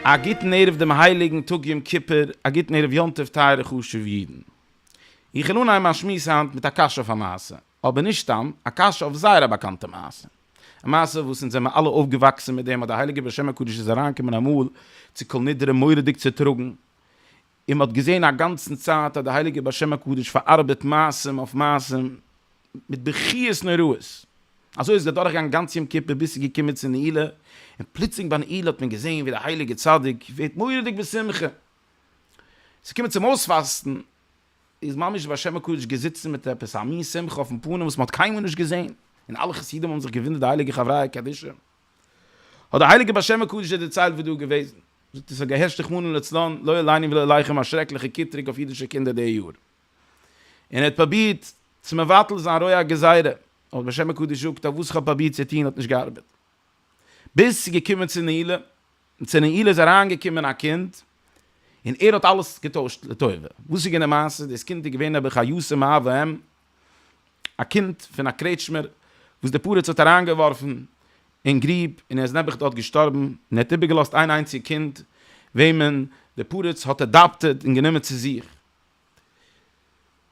א גוטן ערב דעם הייליגן טאג יום כיפור, א גוטן ערב יום טוב טייערע חשובע אידן. איך וויל אנהייבן מיין שמועס היינט מיט א קשיא אויף א מעשה, אבער נישט סתם, א קשיא אויף זייער א באקאנטע מעשה. א מעשה וואס אונז זעמער אלע אויפגעוואקסען מיט דעם אז די הייליגע בשם הקדוש איז אריינגעקומען אמאל צו כל נדרי מוראדיג צוטראגען און מען האט געזעהן א גאנצען צייט אז די הייליגע בשם הקדוש פארארבעט מעשים אויף מעשים מיט בכיות נוראות אזוי איז געדורכגעגאנגען גאנץ יום כיפור ביז ס'איז געקומען צו נעילה און פלוצלינג ביי נעילה האט מען געזעהן ווי די הייליגע צדיק ווערט מוראדיג בשמחה ס'קומען צום אויספאסטען איז ממש בשם הקודש געזיצן מיט עפעס א מין שמחה אויפן פנים וואס מען האט קיינמאל נישט געזען, און אלע חסידים האבן זיך געוואונדערט די הייליגע חבריא קדישא, האט דער הייליגער בשם הקודש זיי דערציילט וואס דא איז געוועזן, זאגט ער ס'האט געהערשט רחמנא לצלן לא עלינו ולא עליכם א שרעקליכע קיטרוג אויף אידישע קינדער די יאר, און ער האט פראבירט צו מבטל זיין רוע הגזירה, אבער בשם הקודש זאגט אז וואס כ'האב פראבירט צו טון האט נישט געארבעט. ביז ס'איז געקומען צו נעילה, און צו נעילה איז אריינגעקומען א קינד, און ער האט אלעס געטוישט לטובה. וואס איז געווען די מעשה? דאס קינד איז געווען נעבעך א יסור מאב ואם, א קינד פון א קרעטשמער, וואס דער פרץ האט אריינגעווארפן אין גריב, און ער איז נעבעך דארט געשטארבן, און ער האט איבערגעלאזט איין איינציג קינד, וועמען דער פרץ האט אדאפטעד און גענומען צו זיך.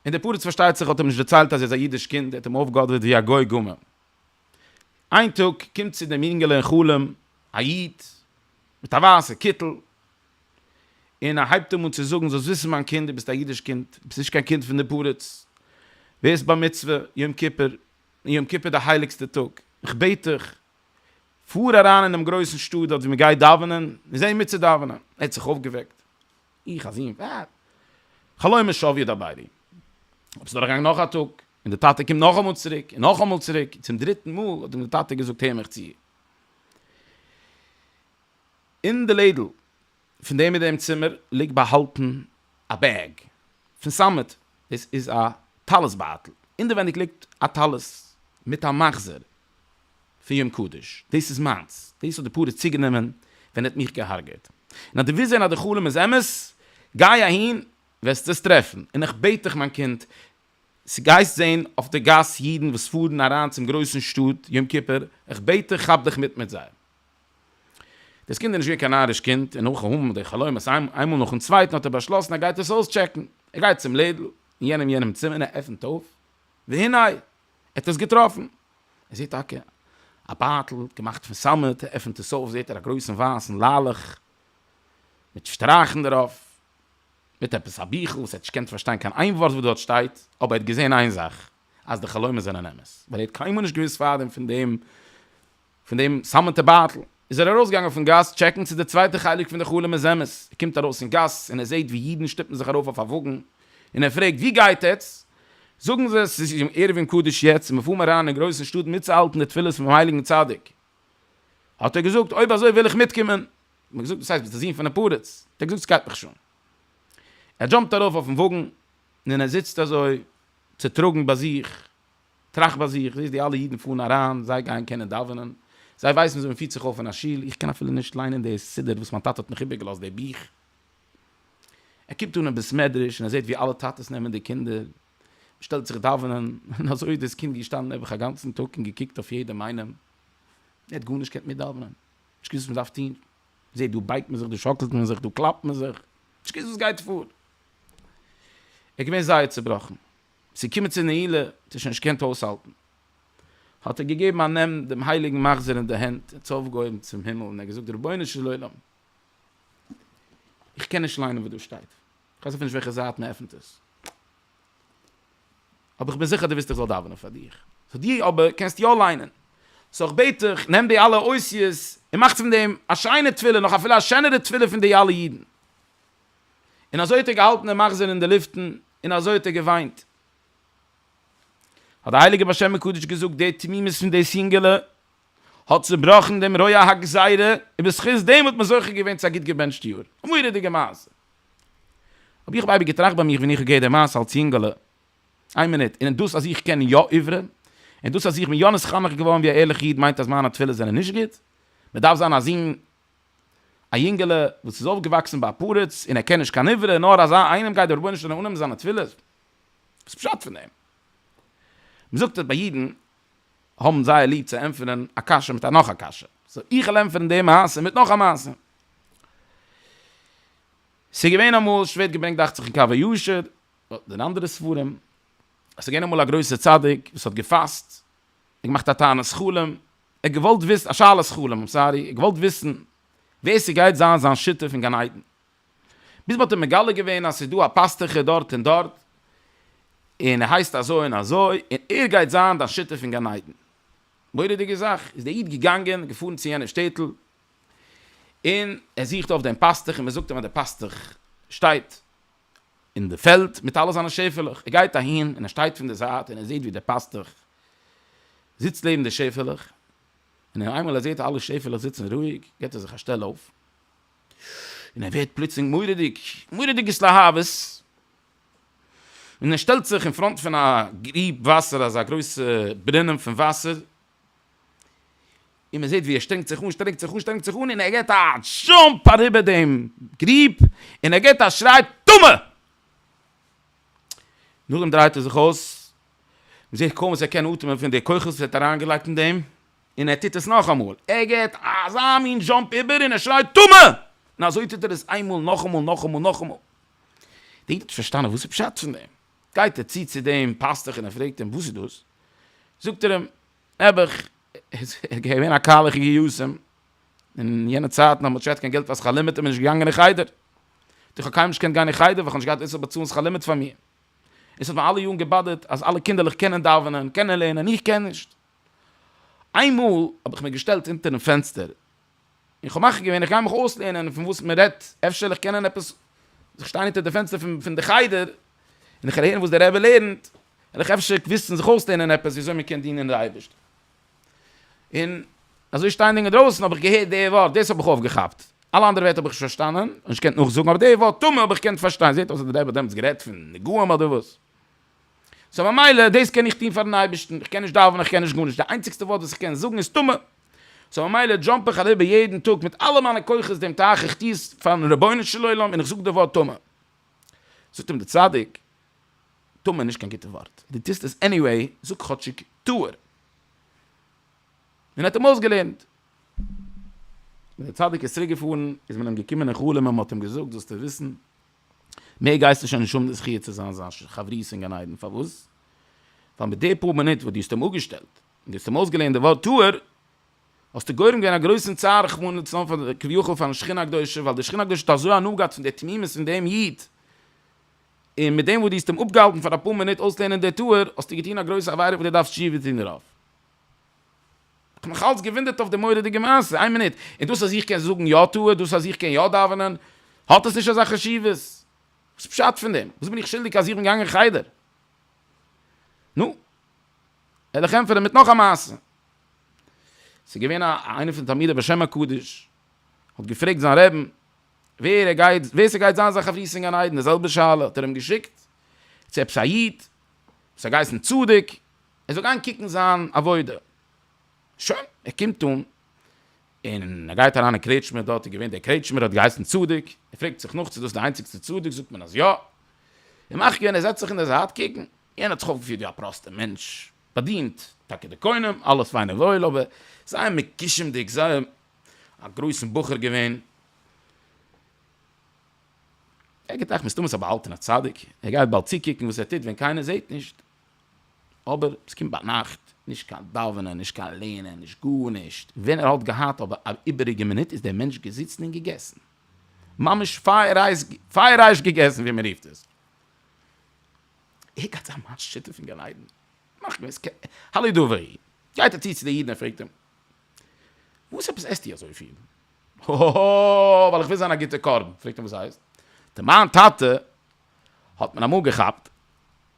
און דער פרץ, פארשטייט זיך, האט אים נישט דערציילט אז ער איז א אידיש קינד, ער האט אים אויפגעאדערט ווי א גוי גמור, איין טאג קומט צו דעם אינגעלע אין חלום א איד מיט א ווייסע קיטל, און ער הייבט אים אן צו זאגן, זאלסט וויסן מיין קינד, דו ביסט א אידיש קינד, דו ביסט נישט קיין קינד פון די פרדס, ווערסט בר מצוה יום כיפור, און יום כיפור איז די הייליגסטע טאג, איך בעט דיך, פאר אריין אין דעם גרויסן שטאט דארט וואו מען גייט דאווענען, און זיי מיטצודאווענען, ער האט זיך אויפגעוועקט, איך אַ זון, װאַט? חלומות שװ יעדער בײבי. אָבער ס'איז דורכגעגאַנגען נאָך אַ טאָג, און דער טאַטע קומט נאָך אַ מאָל צוריק, און נאָך אַ מאָל צוריק, און צום דריטן מאָל האָט אים דער טאַטע געזאָגט, הער מיך צו, אין דער לעדל פֿון דעם און דעם צימער ליגט באַהאַלטן אַ בעג פֿון סאַמעט, דאָס איז אַ טלית-בײַטל, אינדערװענדיק ליגט אַ טלית מיט אַ מחזור, פון יום קדוש, דאס איז מיינס, דאס האט די פרעה צוגענומען ווען ער האט מיך געהארגעט, און אז דו ווילסט זען אז די חלום איז אמת, גיי אהין, וועסטו עס טרעפן, און איך בעט דיך מיין קינד, צו גייסט זען אויף די גאס אידן וואס פארן אריין צום גרויסן שטאט יום כיפור, איך בעט דיך כאפ דיך מיט מיט זיי. דאס קינד איז נישט געווען קיין נאריש קינד, און נאכן האבן די חלומות איינמאל נאכן צווייטן האט ער באשלאסן ער גייט עס אויסטשעקן, ער גייט צום לעדל אין יענעם יענעם צימער און ער עפנט אויף, והנה! ער האט עס געטראפן, ער זעט טאקע א בייטל געמאכט פון סאמעט, ער עפענט עס אויף זעט ער א גרויסן ווייסן לאלעך מיט שטרייכן דערויף, מיט עפעס א ביכל וואס ער האט נישט געקענט פארשטיין קיין איין ווארט וואס דארט שטייט, אבער ער האט געזען איין זאך אז די חלומות זענען אמת, ווייל ער האט קיינמאל נישט געוואוסט פארדעם פון דעם. פון דעם סאמעטע בייטל איז ער ארויסגעגאנגען פון גאס טשעקן צו די צווייטע חלק פון די חלום איז אמת, ער קומט ארויס אין גאס און ער זעהט ווי אידן שטופן זיך ארויף אויף א וואגן און ער פרעגט ווי גייט עטס? זאגן זיי עס איז יום ערבים קדוש יעצט און מיר פארן אריין אין גרויסן שטאט מיטצוהאלטן די תפילות פונעם הייליגן צדיק, האט ער געזאגט אויב אזוי וויל איך מיטקומען, האט מען געזאגט וואס הייסט ביסט די זון פונעם פרדס? האט ער געזאגט סגייט מיך שוין, ער דזשאמפט ארויף אויפן וואגן און ער זיצט אזוי צוטראגן ביי זיך טראכט ביי זיך, זעהסט די אלע אידן פארן אריין, זיי גייען קענען דאווענען, זיי ווייסן וויאזוי מען פירט זיך אויף אין א שול, איך קען אפילו נישט ליינען די סידור וואס מיין טאטע האט מיך איבערגעלאזט די בוך. ער קומט אן אין בית מדרש און ער זעהט ווי אלע טאטעס נעמען די קינדער, מען שטעלט זיך דאווענען, און אזוי איז דאס קינד געשטאנען נעבעך א גאנצן טאג און געקוקט אויף יעדעם איינעם, ער האט גארנישט געקענט מיט דאווענען, נישט געוואוסט וואס מען דארף טון, זעהט דא בייגט מען זיך, דא שאקלט מען זיך, דא קלאפט מען זיך, נישט געוואוסט וואס גייט פאר, ער איז געווען זייער צעבראכן. צו קומען צו נעילה, האט ער שוין נישט געקענט אויסהאלטן, האט ער געגעבן א נעם דעם הייליגן מחזור אין די הענט, און צאפ געהויבן צום הימל, און ער האט געזאגט, רבונו של עולם, איך קען נישט ליינען וואס דא שטייט, איך ווייס אפילו נישט וועלכע זייט מען עפנט עס, אבער איך בין זיכער דו ווילסט איך זאל דאווענען פאר דיר, סאו דו אבער קענסט יא ליינען, סאו איך בעט דיך, נעם די אלע אותיות, און מאך פון דעם א שיינע תפילה, נאך אפילו א שענערע תפילה פון די אלע אידן. און אזוי האט ער געהאלטן דעם מחזור אין די לופטן, און אזוי האט ער געוויינט. האט דער הייליגער בעל שם מקדש געזאגט, די תמימות פון דאס יונגעלע האט צובראכן דעם רוע הגזירה, און בזכות דעם האט מען זוכה געווען צו א גוט געבענטשט יאר. א מורא'דיגע מעשה! האב איך אייביג געטראכט ביי מיך ווען איך האב געהערט דעם מעשה אלס יונגעלע, איין מינוט, און דאס אז איך קען יא עברי, און דאס אז איך בין יא נתחנך געווארן ווי א ערליכע איד מיינט אז מיינע תפילות זענען נישט גוט? מען דארף זיין א זון. א יונגעלע וואס איז אויפגעוואקסן ביי א פרץ און ער קען נישט קיין עברית, נאר אזא איינעם גייט דער רבונו של עולם אננעמען זיינע תפילות? וואס איז פשט פון דעם? מען זאגט אז ביי אידן האבן זייער ליב צו ענטפערן א קשיא מיט א נאך א קשיא, סאו איך וועל ענטפערן די מעשה מיט נאך א מעשה. ס'איז געווען אמאל, ס'ווערט געברענגט דאכט זיך אין קו הישר, אדער אין אנדערע ספרים, אז ס'איז געווען אמאל א גרויסער צדיק וואס האט געפאסט, און געמאכט א תענית חלום, איך געוואלט וויסן, א שאלת חלום, איים סארי, איך געוואלט וויסן ווער ס'גייט זיין זיין שותף אין גן עדן. ביז מ'האט אים מגלה געווען אז ס'איז דא א פאסטוכע דארט און דארט, און ער הייסט אזוי און אזוי, און ער גייט זיין דיין שותף אין גן עדן. מורא'דיגע זאך, איז דער איד געגאנגען, געפארן צו יענע שטעטל, און ער זוכט אויף דעם פאסטוך, און מ'זאגט אים אז דער פאסטוך שטייט אין די פעלד מיט אלע זיינע שעפעלעך, ער גייט אהין און ער שטייט פון די זייט און ער זעט ווי דער פאסטוך זיצט לעבן די שעפעלעך, און אין איינמאל ער זעט אלע שעפעלעך זיצן רואיג גיבט ער זיך א שטעל אויף, און ער ווערט פלוצלינג מורא'דיג, מורא'דיג התלהבות, און ער שטעלט זיך אין פראנט פון א גריב וואסער, אזא גרויסע ברונעם פון וואסער, און מען זעט ווי ער שטרענגט זיך אן, שטרענגט זיך אן, שטרענגט זיך אן, און ער געט א דזשאמפ אריבער דעם גריב, און ער געט א שריי טמא! נאכדעם דרייט ער זיך אויס, מען זעט קוים וואס ער קען אטעמען פון די כוחות וואס ער האט אריינגעלייגט אין דעם, און ער טוט עס נאכאמאל, ער געט אזא מין דזשאמפ איבער און ער שרייט טמא! און אזוי טוט ער עס איינמאל, נאכאמאל, נאכאמאל, נאכאמאל. די איד האט נישט פארשטאנען וואס איז פשט פון דעם. גייט ער צו צו דעם פאסטוך און ער פרעגט אים וואס איז דאס, זאגט ער אים, נעבעך, איז געווען א קהל אחי יהוסים, אין יענע צייטן האט מען נישט געהאט קיין געלט פאר שכר לימוד און מען איז נישט געגאנגען אין חדר, דאך איך האב קיינמאל נישט געקענט גיין אין חדר ווייל איך האב נישט געהאט ווער ס'זאל באצאלן שכר לימוד פאר מיר, און ס'האט מיר אלע יארן געבאדערט אז אלע קינדערלעך קענען דאווענען, קענען לערנען, און איך קען נישט. איינמאל האב איך מיר געשטעלט אונטערן פענסטער איך האב מחליט געווען איך גיי מיך אויסלערנען פון וואס מען רעדט, אפשר וועל איך קענען עפעס, איך שטיי אונטער די פענסטער פון פון די חדר, און איך הער וואס דער רבי לערנט, וועל איך אפשר וויסן זיך אויסלערנען עפעס ווי אזוי מען קען דינען די אייבערשטן. און אזוי שטייענדיג אינדרויסן האב איך געהערט די ווארט, דאס האב איך אויפגעכאפט, אלע אנדערע ווערטער האב איך נישט פארשטאנען און נישט געקענט נאכזאגן, אבער די ווארט טמא האב איך געקענט פארשטיין, זעט אויס אז דער רבי האט דעמאלטס גערעדט פון נגעים אדער וואס. סאו ממילא דאס קען איך טון פארן אייבערשטן, איך קען נישט דאווענען איך קען נישט גארנישט, די איינציגסטע ווארט וואס איך קען זאגן איז טמא, סאו ממילא דזשאמפ איך אריבער יעדן טאג מיט אלע מיינע כוחות דעם טייך איך טוה עס פארן רבונו של עולם און איך זאג די ווארט טמא, זאגט אים דער צדיק, טמא איז נישט קיין גוטע ווארט, דו טוסט עס עניוועי, זאג כאטשיג טהור, און ער האט אים אויסגעלערנט. ווען דער צדיק איז צוריק געפארן איז מען אים געקומען אין חלום און מען האט אים געזאגט זאלסטו וויסן מער גייסטו שוין נישט האבן די זכי' צו זיין זיין חברותא אין גן עדן, פארוואס? ווייל מיט די פאר מינוט וואס דו האסט אים אפגעשטעלט, און דו האסט אים אויסגעלערנט די ווארט טהור, האסטו גורם געווען א גרויסן צער רחמנא לצלן פאר די, כביכול פארן שכינה הקדושה, ווייל די שכינה הקדושה האט אזוי הנאה געהאט פון די תמימות פון דעם איד, און מיט דעם וואס דו האסט אים אפגעהאלטן פאר אפאר מינוט אויסלערנען די טהור, האסטו געטון א גרויסע עבירה וואס דו דארפסט תשובה טון דערויף. כ'האב מיך אלץ געוואונדערט אויף די מורא'דיגע מעשה, איין מינוט, איז דאס אז איך קען זאגן יא תוה, דאס אז איך קען יא דאווענען, האט עס נישט אזא חשיבות? וואס פשט פון דעם? וואס בין איך שולדיג אז איך בין געגאנגען אין חדר? נו, העלעך ענטפערן מיט נאך א מעשה. ס'איז געווען א איינער פון די תלמידי בעל שם הקדוש, האט געפרעגט זיין רעבן, ווער ער גייט, ווער ס'גייט זיין זיין חברותא אין גן עדן, די זעלבע שאלה האט ער אים געשיקט צו עפעס א איד, וואס האט געהייסן צדוק, ער זאל גיין קוקן זיין עבודה. שוין, ער קומט אן, און ער גייט אריין אין קרעטשמע, דארט איז געווען דער קרעטשמער, ער האט געהייסן צדוק, ער פרעגט זיך נאך צו דאס איז די איינציגסטע צדוק, זאגט מען אז יא, און מאך געווען ער זעצט זיך אין דער זייט קוקן, יענער האט זיך אויפגעפירט ווי א פראסטער מענטש, באדינט טאקע די קונים, אלעס פיין און וואויל, אבער זייער מקישמ'דיג, זייער א גרויסן בחור געווען. ער געדאכט מסתמא ס'איז א באהאלטענער צדיק, ער גייט באלד צוקוקן וואס ער טוט ווען קיינער זעט נישט. אבער עס קומט ביינאכט, נישט קיין דאווענען, נישט קיין לערנען, נישט גארנישט, ווען ער האט געהאט אבער א איבעריגע מינוט איז דער מענטש געזיצן און געגעסן, ממש פייערהייס געגעסן ווי מען רופט עס, ער גייט זיין מיין שותף אין גן עדן, מאך געוויס, הלא דברי, גייט ער צו צו די אידן און פרעגט אים, וואס עפעס עסטו אזויפיל? האהא, ווייל איך וויל זיין א גוטע קרבן, פרעגט אים וואס הייסט? ט'מיין טאטע האט מען אמאל געכאפט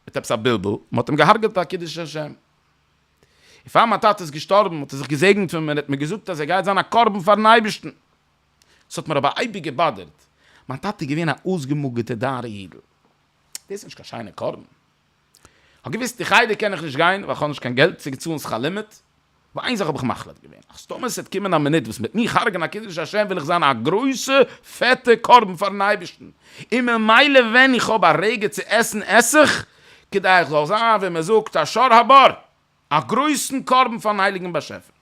מיט עפעס א בלבול, מען האט אים געהארגעט ביי קידוש השם, און פאר מיין טאטע איז געשטארבן האט ער זיך געזעגנט פון מיר און האט מיר געזאגט אז ער גייט זיין א קרבן פארן אייבערשטן, עס האט מיר אבער אייביג געבאדערט, מיין טאטע איז געווען א אויסגעמאגערטער דארער אידל, דאס איז נישט קיין שיינער קרבן. כ'האב געוויסט די חדר קען איך נישט גיין ווייל כ'האב נישט קיין געלט צו צאלן שכר לימוד, אבער איין זאך האב איך מחליט געווען אז טאמער ס'עט קומען א מינוט וואס מ'עט מיר הרג'ענען א קידוש השם וועל איך זיין א גרויסע פעטע קרבן פארן אייבערשטן, און ממילא ווען איך האב א רגע צו עסן עס איך, כדי איך זאל זיין ווי מ'זאגט א שר הבור, א גרויסן קרבן פארן הייליגן באשעפער.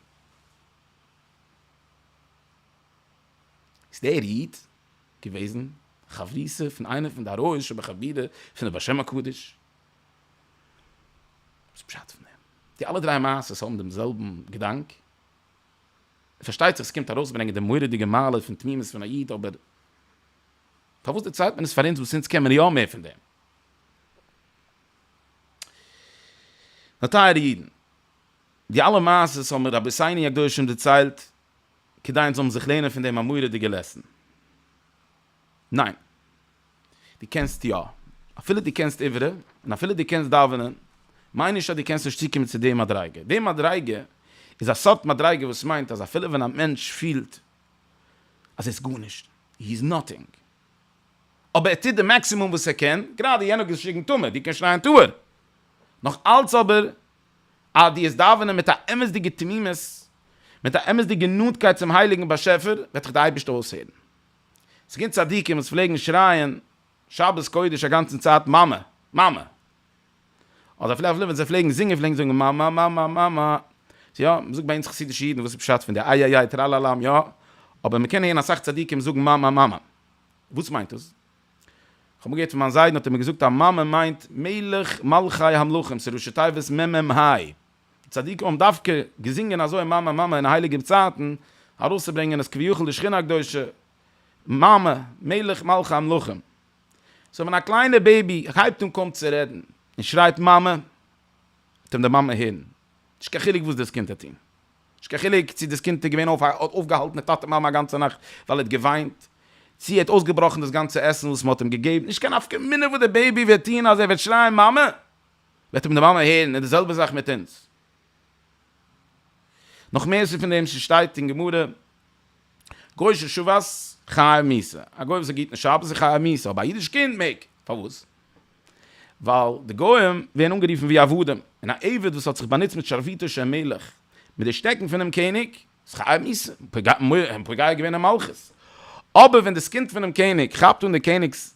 איז דער איד געוועזן חברותא פון איינע פון די הראי ש בחבירה פון די בשם הקדוש. וואס איז פשט פון דעם? די אלע דריי מעשות האבן דעם זעלבן געדאנק. און פארשטייט זיך עס קומט ארויסברענגען די מורא'דיגע מעלה פון תמימות פון א איד אבער פארוואס דערציילט מען עס פאר אונז וואס אונז קען מיר יא מער פון דעם? נאר טייערע אידן, די אלע מעשות האבן רבי'ס עיני הקדושים דערציילט. כדי אונז זאלן זיך לערנען פון דעם א מורא'דיגע לעסן? ניין. דו קענסט יא. אפילו דו קענסט עברה, און אפילו דו קענסט דאווענען, מיין נישט אז דו קענסט נישט צוקומען צו די מדריגה. די מדריגה איז א סארט מדריגה וואס מיינט אז אפילו ווען א מענטש פילט אז ער איז גארנישט, הי איז נאטינג, אבער ער טוט די מאקסימום וואס ער קען, גראדע יענער האט געשריגן טמא, דו קענסט שרייען טהור, נאך אלץ אבער אז דו וועסט דאווענען מיט א אמת'דיגע תמימות, מיט א אמת'דיגע נאנטקייט צום הייליגן באשעפער, וועט דיך דער אייבערשטער אויסהערן. ס'געווען צדיקים וואס פלעגן שרייען שבת קודש א גאנצן צייט מאמע, מאמע. אדער אפילו אפילו ווען זיי פלעגן זינגען פלעגן זיי זאגן מאמע, מאמע, מאמע. יא, מ'זאגט ביי אונז חסידישע אידן וואס איז פשט פון די איי-איי-איי טראלאלאם, יא, אבער מ'קען הערן אסאך צדיקים זאגן מאמע, מאמע. וואס מיינט דאס? כ'האב מיר געהערט פון מיין זיידן האט ער מיר געזאגט אז מאמע מיינט מלך מלכי המלכים ס'איז ראשי תיבות מ מ ה'. די צדיקים האבן דווקא געזינגען אזוי מאמע מאמע אין הייליגע צייטן ארויסצוברענגען אז כביכול די שכינה הקדושה מאמע מלך מלכי המלכים סאו ווען א קליינער בעיבי הייבט אן קוים צו רעדן און שרייט מאמע וועט אים די מאמע הערן נישט קיין חילוק וואס דאס קינד טוט טון. נישט קיין חילוק צי דאס קינד איז געווען אויף האט אויפגעהאלטן די טאטע מאמע א גאנצע נאכט ווייל ער האט געוויינט, צי ער האט אויסגעבראכן דאס גאנצע עסן וואס מען האט אים געגעבן, נישט קיין נפקא מינה וואס די בעיבי וועט טון אז ער וועט שרייען מאמע, וועט אים די מאמע הערן, איז די זעלבע זאך מיט אונז. נאך מער סוד פון דעם שטייט אין גמרא, גוי ששבת חייב מיתה, א גוי וואס איז גוט אין שבת איז חייב מיתה, אבער א אידיש קינד מעג, פארוואס? ווייל די גוים ווערן אנגערופן ווי עבדים, און א עבד וואס האט זיך באנוצט מיט שרביטו של מלך, מיט די שטעקן פונעם קעניג, איז חייב מסים, און פוגע געווען אין מלכות. אבער ווען די זקנט פונעם קעניג כאפט אן די קעניג'ס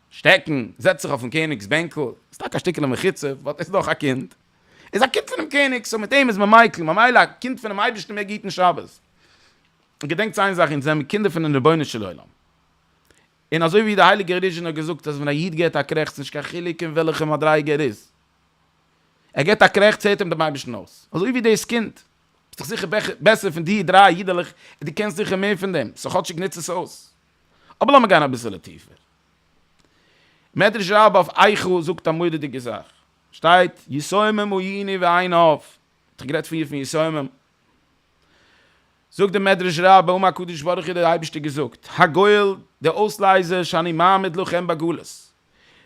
שטעקן, זעצט זיך אויפן קעניג'ס בענקל, איז טאקע א שטיקעלע מחיצה, באט עס איז דאך א קינד, ער איז א קינד פונעם קעניג, סאו מיט אים איז מען מיקל, ממילא א קינד פונעם אייבערשטן מעג היטן שבת. און געדענקטס איין זאך, אונז זעמיר קינדער פונעם רבונו של עולם, און אזוי ווי דער הייליגער ריז'שין האט געזאגט אז ווען א איד געט א קרעכץ נישט קיין חילוק אין וועלכע מדריגה ער איז, ער געט א קרעכץ הערט אים דעם אייבערשטן אויס, אזוי ווי דאס קינד, ביסט דאך זיכער בעסער פון די דריי אידעלעך און דו קענסט זיכער מער פון דעם, סאו כאטשיג נוץ עס אויס. אבער לאמיר גיין אביסעלע טיפער. מדרש רבה אויף איכה זאגט א מורא'דיגע זאך, שטייט יסומם הוא עיני ועיניו, האט זיך גערעדט פריער פון יסומם, זאגט דער מדרש רבה האט הקדוש ברוך הוא דער אייבערשטער געזאגט, הגואל, דער אויסלייזער, שאני מעמיד לכם בגלות,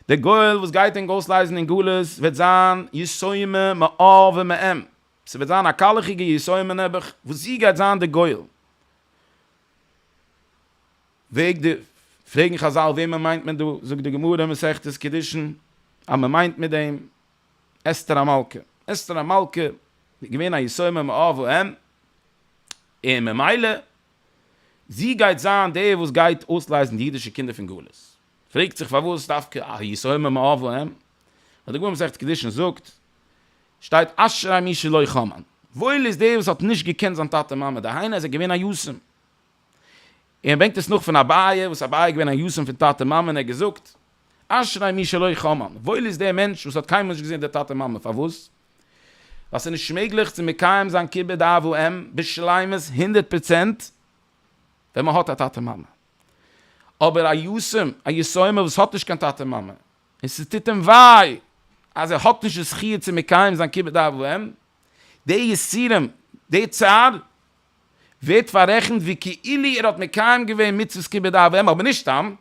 דער גואל וואס גייט ענק אויסלייזן אין גלות וועט זיין יסומה מאה ומעם, ס'וועט זיין א קאלעכיגע יסומה נעבעך, וואס זי גייט זיין דער גואל. וועג די, פרעגן חזל וועמען מיינט מען דא, זאגט די גמרא אין מסכת קידושין אז מ'מיינט מיט דעם, אסתר המלכה, אסתר המלכה איז געווען א יסומה מאב ואם, און ממילא זי גייט זיין די וואס גייט אויסלייזן די אידישע קינדער פון גלות, פרעגט זיך פארוואס דווקא א יסומה מאב ואם, ווען די גמרא מסכת קידושין זאגט, שטייט אשרי מי שלא חמל, וואויל איז דער וואס האט נישט געקענט זיין טאטע מאמע, דהיינו אז ער איז געווען א יתום, און ער ברענגט עס נאך פון אביי, וואס אביי איז געווען א יתום פון טאטע מאמע, און ער האט געזאגט, אשרי מי שלא חמל, וואויל איז דער מענטש וואס האט קיינמאל נישט געזען די טאטע מאמע, פארוואס? ווייל ס'איז נישט מעגליך צו מקיים זיין כיבוד אב ואם בשלימות הונדערט פראצענט ווען מ'האט א טאטע מאמע, אבער א יתום, א יתומה וואס האט נישט קיין טאטע מאמע, און ס'טוט אים וויי אז ער האט נישט די זכי' צו מקיים זיין כיבוד אב ואם, די יסורים, די צער, ווערט פאררעכנט ווי כאילו ער האט מקיים געווען מצוות כיבוד אב ואם אבער נישט סתם,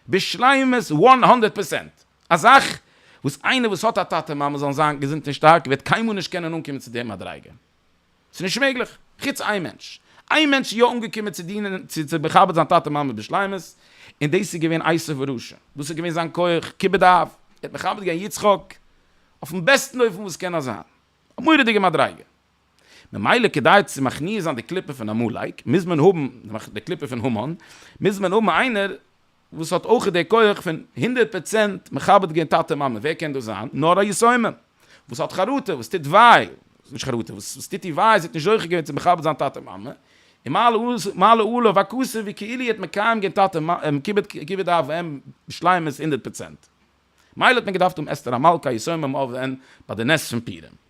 בשלימות וואן הונדערט פערסענט, א זאך וואס איינער וואס האט א טאטע מאמע זאלן זיין געזונט און שטארק וועט קיינמאל נישט קענען אנקומען צו די מדריגה, ס'איז נישט מעגליך, חוץ איין מענטש, איין מענטש איז יא אנגעקומען צו דינען צו צו מכבד זיין טאטע מאמע בשלימות, און דאס איז געווען עשו ורשע, דאס איז געווען זיין כח כיבוד אב, ער האט מכבד געווען יצחק אויפן בעסטן אופן וואס קען נאר זיין, א מורא'דיגע מדריגה. ממילא כדי צו מכניע זיין די קליפה פון עמלק מוז מען האבן די קליפה פון המן, מוז מען האבן איינער וואס האט אויך די כח פון הונדערט פראצענט מכבד גיין טאטע מאמע, ווער קען דאס זיין? נאר א יתומה וואס האט חרטה, וואס טוט וויי, נישט חרטה, וואס טוט איר וויי אז זי האט נישט זוכה געווען צו מכבד זיין טאטע מאמע, און מעלה עליו הכסף ווי כאילו איר האט מקיים גיין טאטע כיבוד אב ואם בשלימות הונדערט פראצענט. מילא האט מען געדארפט האבן אסתר המלכה א יתומה מאב ואם ביי די נס פון פורים.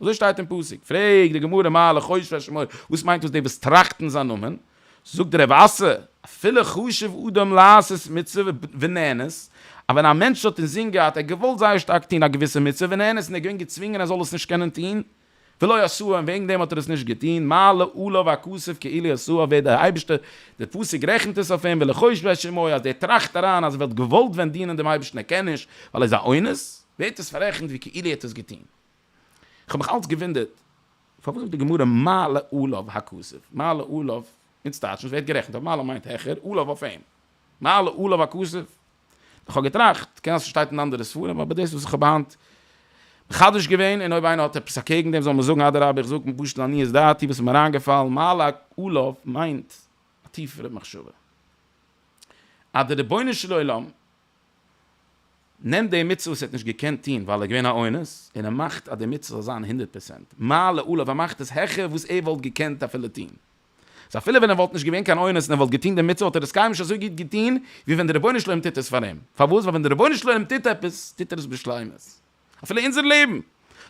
אזוי שטייט אין פסוק, פרעגט די גמרא מה לחושב על שמו, וואס מיינט דאס די וואס טראכטן זיין נאמען, זאגט רב אסא, אפילו חשב אדם לעשות מצוה ונענס, אז ווען א מענטש האט אינזין געהאט ער האט געוואלט זייער שטארק טון א געוויסע מצוה ונענס און ער איז געווען געצווינגען ער זאל עס נישט קענען טון, ולא עשה און וועגן דעם האט ער עס נישט געטון, מעלה עליו הכסוף כאילו עשה ווערט דער אייבערשטער, דער פסוק רעכנט עס אויף אים ולחושב על שמו, אז דער טראכט אריין אז ער וואלט געוואלט ווען דינען דעם אייבערשטן ער קען נישט ווייל ער איז א אונס, ווערט עס פאררעכנט ווי כאילו ער האט עס געטון. איך האב מיך אלץ געוואונדערט פארוואס זאגט די גמרא מעלה עליו הכסף, מעלה עליו אונז טייטשן עס ווערט גערעכנט אויף מעלה מיינט העכער, עליו אויף אים, מעלה עליו הכסף, איך האב געטראכט קען זיין ס'שטייט אין אנדערע ספרים אבער דאס וואס איך האב היינט מחדש געווען און אויב איינער האט עפעס אקעגן דעם זאל מען זאגן אדרבה איך זאג פשוט לעניות דעתי וואס איז מיר איינגעפאלן מעלה עליו מיינט א טיפערע מחשבה אז די רבונו של עולם נעמט די מצוה וואס ער האט נישט געקענט טון ווייל ער איז געווען א אונס, און ער מאכט אז די מצוה זאל זיין הונדערט פראצענט מעלה עליו, ער מאכט עס העכער וואס ער וואלט געקענט אפילו טון. סא אפילו ווען ער וואלט נישט געווען קיין אונס און ער וואלט געטון די מצוה וואלט ער עס קיינמאל נישט אזוי גוט געטון ווי ווען דער רבונו של עולם טוט עס פאר אים. פארוואס? ווייל ווען דער רבונו של עולם טוט עפעס, טוט ער עס בשלימות. אפילו אונזער לעבן,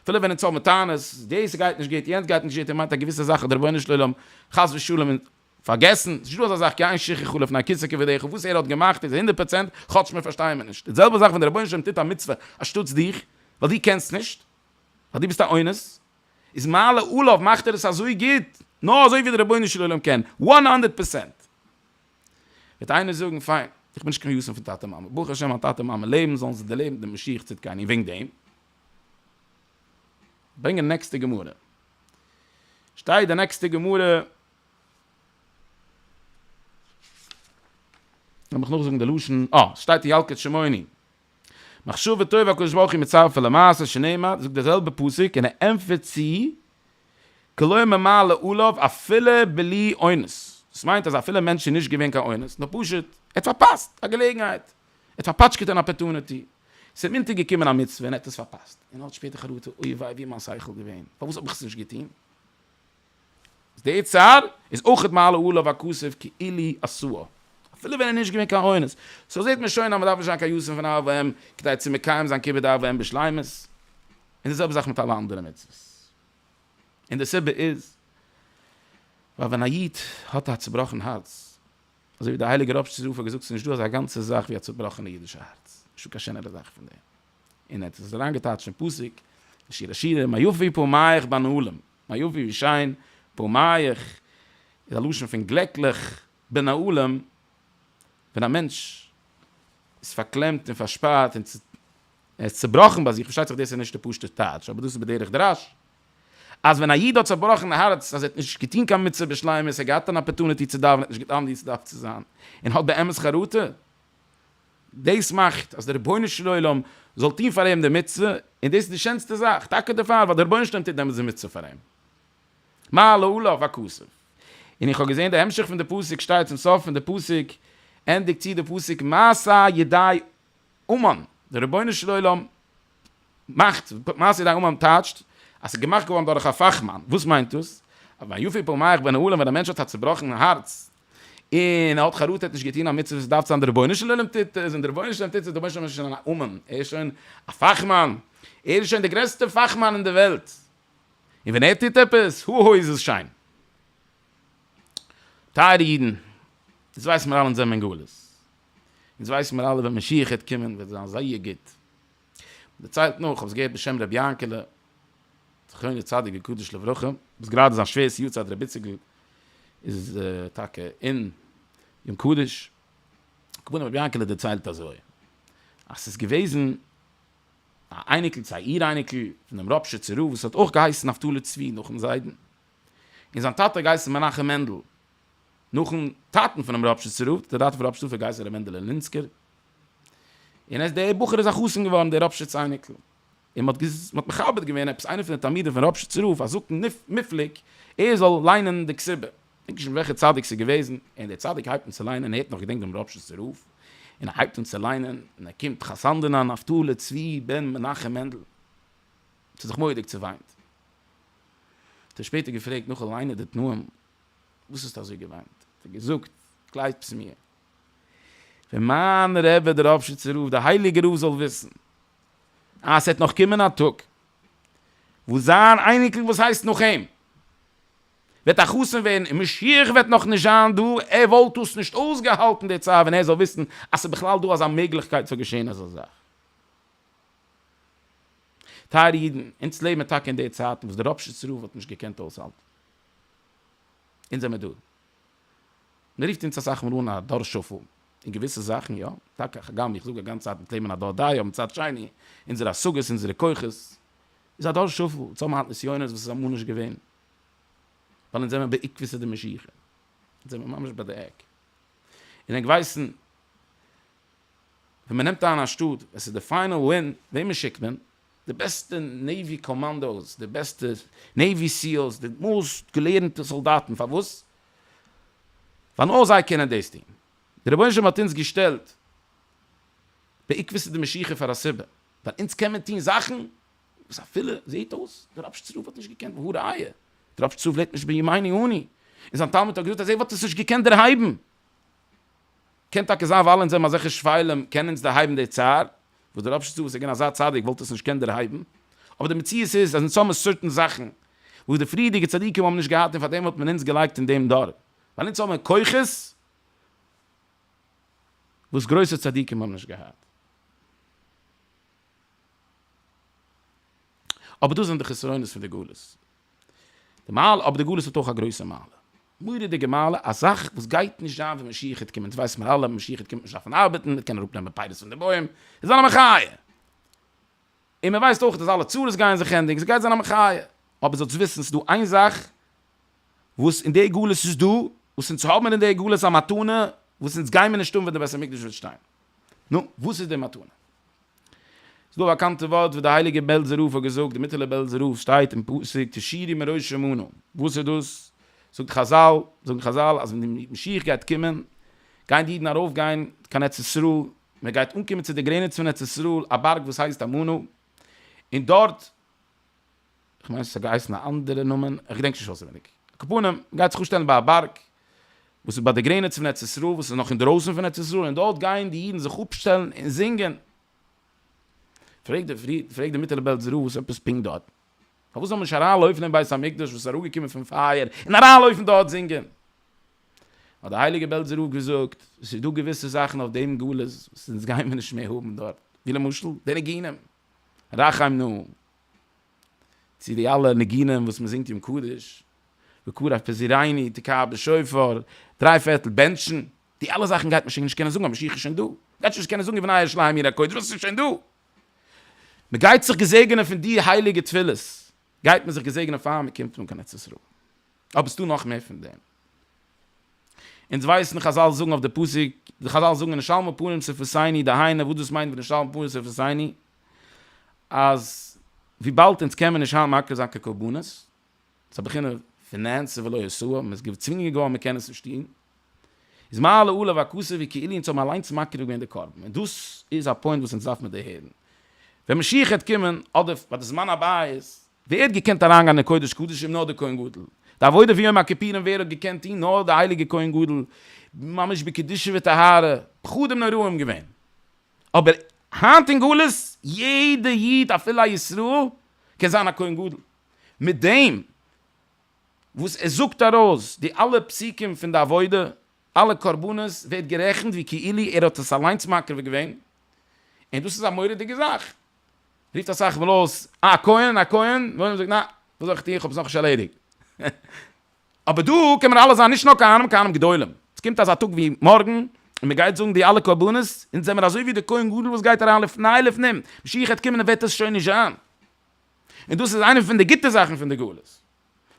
אפילו ווען אונז האבן טענות, דאס גייט נישט גוט, יענץ גייט נישט גוט, און מ'מיינט א געוויסע זאך אז דער רבונו של עולם חס ושלום פארגעסן, ס'נישט דא אזא זאך קיין שיכוך חלף נקיסה כבדרך און וואס ער האט געמאכט איז הונדערט פראצענט כאטש מיר פארשטייען מיר נישט, די זעלבע זאך ווען דער רבונו של עולם טוט א מצוה אנשטאטס דיך, ווייל דו קענסט נישט, ווייל דו ביסט א אונס, איז מעלה עליו מאכט ער עס אזוי גוט, נאר אזוי ווי דער רבונו של עולם קען, וואן הונדערט פערסענט. וועט איינער זאגן, פיין, איך בין נישט קיין ישום פון טאטע מאמע, ברוך השם מיין טאטע מאמע לעבן, זאלן זיי דערלעבן דעם משיח צדקינו, און וועגן דעם ברענגען נעקסטע גמרא, שטייט די נעקסטע גמרא, לאמיר נאך זאגן די לשון, אה, ס'שטייט אין ילקוט שמעוני, מחשבה טובה הקדוש ברוך הוא מצרף אל המעשה שנאמר, זאגט דער זעלבער פסוק און ער ענטפערט צו, כלא ממלא עליו אפילו בלי אונס, דאס מיינט אז אפילו מענטש איז נישט געווען קיין אונס, נאר פשוט ער האט פארפאסט א געלעגנהייט, ער האט פארפאטשקעט אן אפערטונעטי, ס'איז אים אונטערגעקומען א מצוה און ער האט עס פארפאסט, און ער האט שפעטער חרטה, אוי וויי ווי איז מיין שכל געווען, פארוואס האב איך עס נישט געטון? איז די צד איז אויכעט מעלה עליו הכסף כאילי עשוה אפילו ווען ער נישט געווען קיין אונס, סאו זעהט מען שוין אז מען דארף נישט זיין קיין יסען פון אב ואם כדי צו מקיים זיין כיבוד אב ואם בשלימות, און די זעלבע זאך מיט אלע אנדערע מצוות, און די סיבה איז ווייל ווען א איד האט א צובראכן הארץ, אזוי ווי דער הייליגער ראב ש זי ע האט געזאגט ס'איז נישטא אזא גאנצע זאך ווי א צובראכענע אידישע הארץ, נישטא קיין שענערע זאך פון דעם, און ער האט עס אריינגעטייטשט אין פסוק אין שיר השירים מה יפי פניך בנעלים, מה יפה ווי שיין, פארמייך, איז א לשון פון גלעקליך, בין העולם, ווען א מענטש איז פארקלעמט און פארשפארט און ער איז צעבראכן ביי זיך, פארשטייט זיך דאס איז נישט די פשוט'ע טייטש אבער דאס איז בדרך דרש, אז ווען א איד האט צעבראכן הארץ אז ער האט נישט געטון קיין מצוה בשלימות, ער האט געהאט אן אפערטוניטי צו דאווענען, ער האט נישט געטון אנווי צו דארף צו זיין, און האט באמת חרטה, דאס מאכט אז דער רבונו של עולם זאל טון פאר אים די מצוה, און דאס איז די שענסטע זאך, טאקע דערפאר ווייל דער רבונו של עולם טוט דעמאלטס די מצוה פאר אים. מה להלאה והכסף. און איך האב געזען די המשך פון די פסוק שטייט צום סוף פון די פסוק, ענדיגט צו די פסוק מעשה ידי אומן, דער רבונו של עולם מאכט, מעשה ידי אומן טייטשט אז ס'איז געמאכט געווארן דורך א פאכמאן, וואס מיינט דאס? אז ביי יפיל פעמיך בין העולם ווען א מענטש האט א צובראכן הארץ און ער האט חרטה נישט געטון א מצוה וואס דארף זיין די רבונו של עולם טוט עס און די רבונו של עולם טוט עס דערמאנסט שוין שוין א אומן ער איז שוין א פאכמאן ער איז שוין די גרעסטע פאכמאן אין די וועלט און ווען ער טוט עפעס הו הא איז עס שיין. טייערע אידן אונז ווייסן מיר אלע אונז זעמיר אין גלות אונז ווייסן מיר אלע ווען משיח העט קומען וועט זיין זייער גוט. מ'דערציילט נאך, כ'האב עס געהערט בשם ר' יענקעלע זכרונו צדיק וקדוש לברכה, וואס גראדע זיין שווער'ס יארצייט ר' איציקל איז טאקע אין יום קדוש, הכוונה ר' יענקעלע דערציילט אזוי, אז ס'איז געוועזן א אייניקל צו א איר אייניקל פונעם ראפשיצער רב וואס האט אויך געהייסן נפתלי צבי נאכן זיידן, און זיין טאטע האט געהייסן מנחם מענדל, נאכן טאטן פונעם רב שז רב, דער טאטע פון רב שטופער גייסט ר' מענדעלע לינסקער, און עס דער בחור איז א חתן געווארן דער רב שז אייניקל, און מען האט מכבד געווען עפעס איינער פון די תלמידים פון רב שז רב א זקן מופלג ער זאל ליינען די כתובה, דענק נישט וועלכע צדיק ס'איז געוועזן, און דער צדיק הייבט אן צו ליינען, און ער האט נאך געדענקט דעם רב שז רב, און ער הייבט אן צו ליינען, און ער קומט חתנדינא נפתלי צבי בן מנחם מענדל, ס'האט זיך מורא'דיג צעוויינט, האט ער שפעטער געפרעגט נאכן ליינען די תנאים, וואס האסטו אזוי געוויינט? האט ער געזאגט, גלייבטס מיר, ווען מיין רבי דער ראפשיצער רב, דער הייליגער רב זאל וויסן אז ס'וועט נאך קומען א טאג וואס זיין אייניקל וואס הייסט נאך אים וועט א חתן ווערן און משיח וועט נאך נישט זיין דא, ער וואלט עס נישט אויסגעהאלטן די צייט ווען ער זאל וויסן אז ס'איז בכלל דא אזא מעגליכקייט ס'זאל געשען אזא זאך. טייערע אידן, אונז לעבן טאקע אין די צייטן וואס דער ראפשיצער רב האט נישט געקענט אויסהאלטן. אונז זעמער דא. מ'רופט אונז אסאך מאל אן א דור שפל אין געוויסע זאכן, יא, טאקע, הגם איך זאג אגאנץ צייט מ'טוט לעבן אין א דור דאיו, מצד שני, אונזערע השגות, אונזערע כוחות, איז א דור שפל, אונז האבן היינט נסיונות וואס איז אמאל נישט געווען. ווייל אונז זעמער בעיקבותא דמשיחא. אונז זעמער ממש ביי די עק. און ענק ווייסן, ווען מ'נעמט איין א שטאט, עס איז די פיינעל ווין, וועמען שיקט מען? די בעסטע נעיווי קאמאנדאוס, די בעסטע נעיווי סיעלס, די מאסט געלערנטע סאלדאטן, פארוואס? ווייל נאר זיי קענען דאס טון. דער רבונו של עולם האט אונז געשטעלט בעקבתא דמשיחא פאר א סיבה, ווייל אונז קען מען טון זאכן וואס אפילו זעהט אויס דער רבש צ רב וואלט נישט געקענט, והא ראיה, דער רבש צ רב לעבט נישט בימינו אנו, און זיין תלמיד הגדול ט ז וואלט עס נישט געקענט דערהייבן. קען טאקע זיין ווייל אונז האבן אזעלכע שפלים קען אונז דערהייבן די צער, וואס דער אפשטאט וואס איז געווען אזא צדיק וואלט עס נישט געקענט דערהייבן, אבער די מציאות איז אז אונז האבן סארטן זאכן וואס די פריערדיגע צדיקים האבן נישט געהאט און פארדעם האט מען אונז געלייגט אין דעם דור, ווייל אונז האבן כוחות וואס גרויסע צדיקים האבן נישט געהאט. אבער דאס זענען די חסרונות פון די גלות. די מעלה אבער די גלות האט אויך א גרויסע מעלה, מורא'דיגע מעלה, א זאך וואס גייט נישט זיין ווען משיח העט קומען, דאס ווייסן מיר אלע, משיח העט קומען וועט מען נישט דארפן ארבעטן, מ'וועט קענען אראפ נעמען פירות פון די בוים, עס זאל זיין א מחיה, און מען ווייסט אויך אז אלע צרות גייען זיך ענדיגן, עס גייט זיין א מחיה, אבער זאלטס וויסן ס'דא איין זאך וואס אין די גלות איז דא, וואס אונז האבן אין די גלות א מתנה וואס אונז גיימיר נישט האבן ווען די בית המקדש וועט שטיין, נו, וואס איז די מתנה? ס'איז דא א באקאנטע ווארט וואס דער הייליגער בעלזער רב האט געזאגט, די מיטעלע בעלזער רב שטייט אין פסוק תשירי מראשי מנעו, וואס איז דאס? זאגט חזל, זאגן חזל אז ווען די משיח גייט קומען, גייען די אידן ארויף גיין קיין ארץ ישראל, מען גייט אנקומען צו די גרעניץ פון ארץ ישראל, א בארג וואס הייסט אמנא, און דארט, כ'מיין ס'האט געהייסן א אנדערע נאמען, איך געדענק נישט אויסעווייניג. הקופונים גייט זיך אפשטעלן ביי א בארג וואס איז ביי די גרעניץ פון ארץ ישראל וואס איז נאך אינדערויסן פון ארץ ישראל און דארט גייען די אידן זיך אפשטעלן און זינגען. פרעגט די פרי פרעגט די מיטעלע בעלזע רב וואס עפעס פונקט דארט? פארוואס זאל מען נישט אריינלויפן אין בית המקדש וואס איז אראפגעקומען פון פייער און אריינלויפן דארט זינגען? האט די הייליגע בעלזע רב געזאגט, ס'איז דא געוויסע זאכן אויף דעם גלות וואס אונז גייען מיר נישט מער האבן דארט, ווי למשל די ניגונים רחמנא צו די אלע ניגונים וואס מען זינגט יום קדוש, וקרא אף פזירייני, תקעה בשופר, דריי פערטל בענטשן, די אלע זאכן גייט מען שוין נישט קענען זאגן, א משיח איז שוין דא, מען גייט שוין נישט קענען זאגן ובנה אש להם עיר הקודש, ווייל עס איז שוין דא. מען גייט זיך געזעגענען פון די הייליגע תפילות, גייט מען זיך געזעגענען פאר מען קומט אן קיין ארץ ישראל. אבער עס איז דא נאך מער פון דעם. אונז ווייסן, חזל זאגן אויף די פסוק, חזל זאגן ונשלמו פנים סוף עשייני, דהיינו וואס דאס מיינט ונשלמו פנים סוף עשייני, אז וויבאלד אונז קען מען נישט היינט מקריב זיין קיין קרבנות, ס'איז א בחינה פון נעשה ולא יעשו, מ'איז געצווינגען געווארן מ'קען עס נישט טון, איז מה לעולה והכוסה ווי כאילו אונז האבן אליינס מקריב געווען די קרבן, און דאס איז א פוינט וואס אונז דארף מען דערהערן ווען משיח העט קומען, אדער ביי די זמן הבית. ווער האט געקענט אריינגיין אין קודש קדשים? נאר דער כהן גדול. די עבודה פון יום הכיפורים ווער האט געקענט טון? נאר דער הייליגער כהן גדול, ממש בקדושה וטהרה, פחדים נוראים געווען. אבער היינט אין גלות יעדע איד אפילו א ישראל קען זיין א כהן גדול, מיט דעם וואס ער זאגט ארויס די אלע פסוקים פון די עבודה, אלע קרבנות ווערט גערעכנט ווי כאילו ער האט עס אליינס מקריב געווען, און דאס איז א מורא'דיגע זאך, רופט אסאך מאל אויס אה א כהן א כהן, בן עולם זאגט נעה וואס זאל איך טון איך האב עס נאכנישט ערלעדיגט. אבער דא קען מען אלעס זיין נישט נאר כהנים כהנים גדולים, עס קומט אזא טאג ווי מארגן און מען גייט זאגן די אלע קרבנות, אונז זעמער אזוי ווי די כהן גדול וואס גייט אריין לפני לפנים, משיח העט קומען און וועט עס שוין נישט זיין, און דאס איז איינע פון די גוטע זאכן פון די גלות, דאס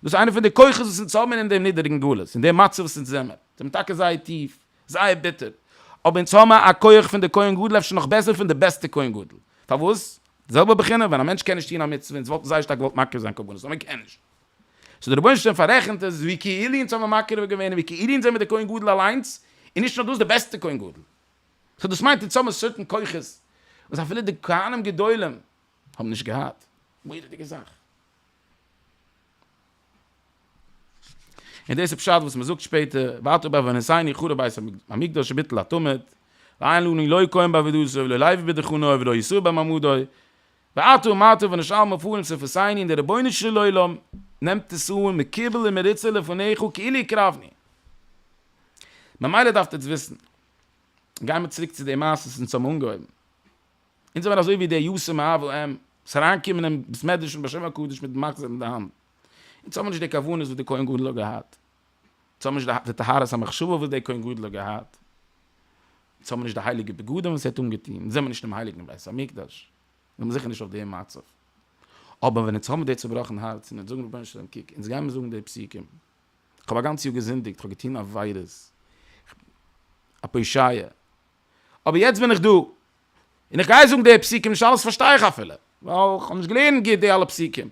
איז איינע פון די כוחות וואס אונז האבן אין דעם נידעריגן גלות, אין דעם מצב וואס אונז זעמער, זעמער טאקע זייער טיף, זייער ביטער, אבער אונז האבן א כח פון די כהן גדול אפשר נאך בעסער פון די בעסטע כהן גדול, פארוואס? זעלבע בחינה, ווען א מענטש קען נישט טון א מצוה, אונז וואלטן זייער שטארק געוואלט מקריב זיין קרבנות, אבער מען קען נישט. סאו די רבונו של עולם פאררעכנט עס ווי כאילו אונז האבן מקריב געווען און ווי כאילו אונז זעמיר די כהן גדול אליינס, און נישט נאר דאס די בעסטע כהן גדול. סאו דאס מיינט אונז האבן סערטען כוחות וואס אפילו די כהנים גדולים האבן נישט געהאט. מורא'דיגע זאך. און דאס איז פשט וואס מען זאגט שפעטער, ואתה בא ונשאני חרב בית המקדש וביטל התמיד, ואין לנו לא כהן בעבודתו ולא לוי בדחנוי ולא יסור במעמדוי, ואתו אומתו ונשאל מפוארים ס'פסייני און דער רבונו של עולם נעמט עס אן מקובל ומרוצה לפניך כאילו הקרבני. ממילא דארפט עטס וויסן, גייען מיר צוריק צו די מעשה וואס אונז האבן אנגעהויבן, אונז זעמיר אזוי ווי די יסור מאבל ם וואס אריינקומען אין בית מדרש פון בשם הקדוש מיט מחזור אין די האנט, אונז האבן נישט די כוונות וואס די כהן גדול האט געהאט, זיי האבן נישט געהאט די טהרת המחשבה וואס דער כהן גדול האט געהאט, זיי האבן נישט די הייליגע בגדים וואס ער האט אנגעטון, זיי זענען נישט אינעם הייליגן בית המקדש, זיי זענען זיכער נישט אויף דעם מצב. אבער ווען אונז האבן די צובראכן הארץ און אונז זאגן רבונו של עולם קוק, אונז גיימיר זאגן די פסוקים, איך האב א גאנץ יאר געזינדיגט, איך האב געטון עבירות, איך בין א פושעיה, אבער יעצט בין איך דא, און איך גיי זאגן די פסוקים, נישט אלעס פארשטיי איך אפילו, ווייל איך האב נישט געלערנט גוט די אלע פסוקים,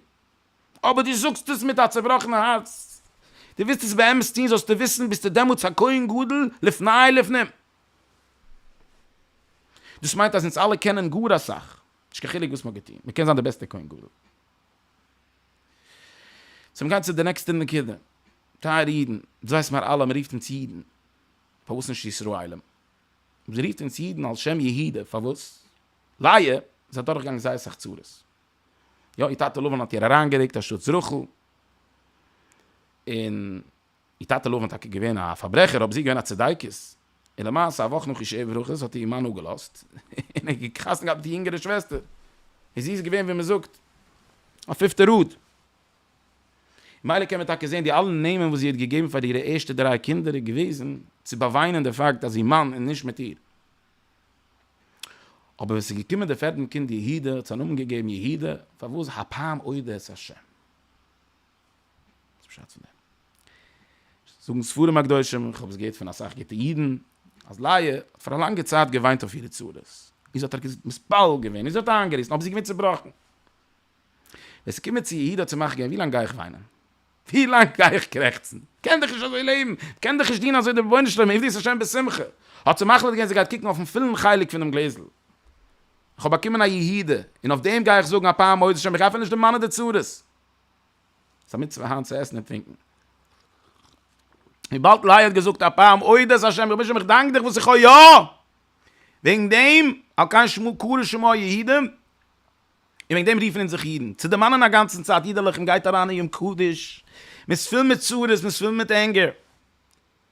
אבער דו זאגסט עס מיט א צעבראכענע הארץ, דו ווילסט עס באמת טון, זאלסטו וויסן ביסטו דעמאלטס א כהן גדול לפני לפנים. דאס מיינט אז אונז אלע קענען גאר אסאך, נישט קיין חילוק וואס מ'האט געטון, מ'קען זיין די בעסטע כהן גדול. צו מ'גייט צו די נעקסטע נקודה, טייערע אידן, דאס ווייסן מיר אלע, מ'רופט אונז אידן, פארוואס נישט ישראלים? מ'רופט אונז אידן על שם יהודה, פארוואס? לייע, זיי דורכגעגאנגען זייער סאך צרות, יא איר טאטע לבן האט איר אריינגעריקט א שטות זרח'ל, און איר טאטע לבן איז טאקע געווען א פארברעכער אבער זי איז געווען א צדיקת, און למעשה א וואך נאך איר שבע ברכות האט איר מאן אפגעלאזט און ער האט חתונה געהאט מיט איר יונגערע שוועסטער, און זי איז געווען ווי מען זאגט א פיפטע ראד. ממילא קען מען טאקע זען די אלע נעמען וואס זי האט געגעבן פאר אירע ערשטע דריי קינדער איז געוועזן צו באוויינען די פאקט אז איר מאן איז נישט מיט איר. אבער ווען ס'איז געקומען דער פערדן קינד יהודה האט זיין נאמען געגעבן יהודה, פארוואס הפעם אודה את השם. זאגן ספרים הקדושים, איך האב עס געהערט פון אסאך גוטע אידן, אז לאה האט פאר א לאנגע צייט געוויינט אויף אירע צרות, און זי האט איר געזאגט, מתפלל געווען, און זי האט איינגעריסן, אבער זי איז געווען צעבראכן. ווען ס'איז געקומען צו יהודה האט זי מאך געווען, ווי לאנג גיי איך וויינען? ווי לאנג גיי איך קרעכצן? כ'קען דאך נישט אזוי לעבן, כ'קען דאך נישט דינען אזוי דעם רבונו של עולם, עבדות השם בשמחה. האט זי מחליט געווען זי גייט קוקן אויפן פולן חלק פונעם גלעזל. איך האב באקומען א יהודה, און אויף דעם גיי איך זאגן א פאר מודות השם, איך גיי אפילו נישט דערמאנען די צרות. ס'איז א מצוה היינט צו עסן און טרינקן. וויבאלד לאה האט געזאגט א פאר מודות השם, רבונו של עולם איך דאנק דיך וואס איך האב יא! וועגן דעם, על כן שמעו קרא לשמו היהודים. און וועגן דעם רופן אונז זיך אידן, צו דערמאנען אגאנצן צייט אידעלעך און גייט אריין אין יום קדוש, מען איז פול מיט צרות, מען איז פול מיט ענגער,